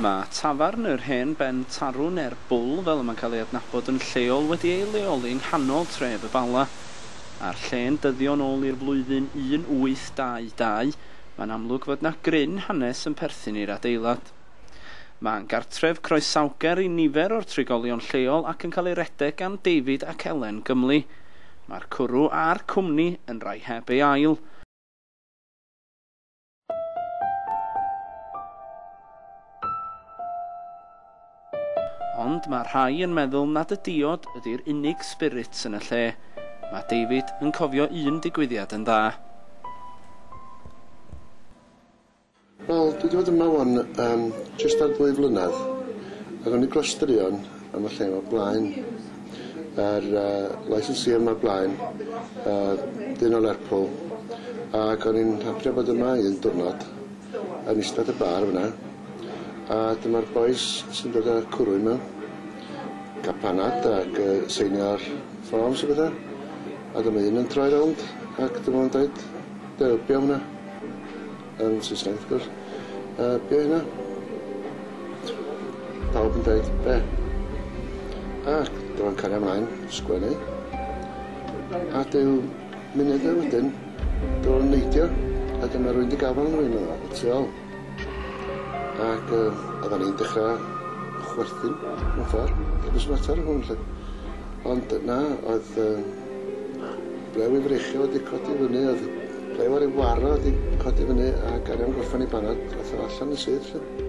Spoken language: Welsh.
Mae tafarn yr Hen Ben Tarw neu'r Bwl fel y mae'n cael ei adnabod yn lleol wedi ei leoli yng nghanol tref y Bala. A'r lle'n dyddio'n ôl i'r flwyddyn 1822, mae'n amlwg fod 'na gryn hanes yn perthyn i'r adeilad. Mae'n gartref croesawgar i nifer o'r trigolion lleol ac yn cael ei redeg gan David ac Elen Gymley. Mae'r cwrw a'r cwmni yn rai heb ei ail. Ond mae rhai yn meddwl nad y diod ydy'r unig spirit yn y lle. Mae David yn cofio un digwyddiad yn dda. Wel, dwi 'di bod yma ŵan yym jyst ar ddwy flynedd, ac o'n i dros straeon am y lle yma blaen yr yy licensee yma blaen yy dyn o Lerpwl ag o'n i'n hapio bod yma un diwrnod yn ista at y bar fynna a dyma'r bois sy'n dod â cwrw yma ca'l panad ac yy seinio'r ffôms a petha a dyma un yn troi rownd ac dyma fo'n deud dybia hwnna. Yn Saesneg wrth gwrs. Yy be' oedd hynna? Pawb yn deud be'? Ac dyma'n cario mlaen sgwennu. A dyw munudau wedyn dyw o'n neidio a dyma rywun 'di gafal arno fi medda fo y tu ôl. Ac yy oddan ni'n dechra chwerthin mewn ffor. It was a matter of hwn 'lly. Ond yy na oedd yym Ble wi freichio wedi codi fyny o'dd ble wi wedi waro wedi codi fyny a gario am gorffan 'i banad ath o allan yn syth 'lly.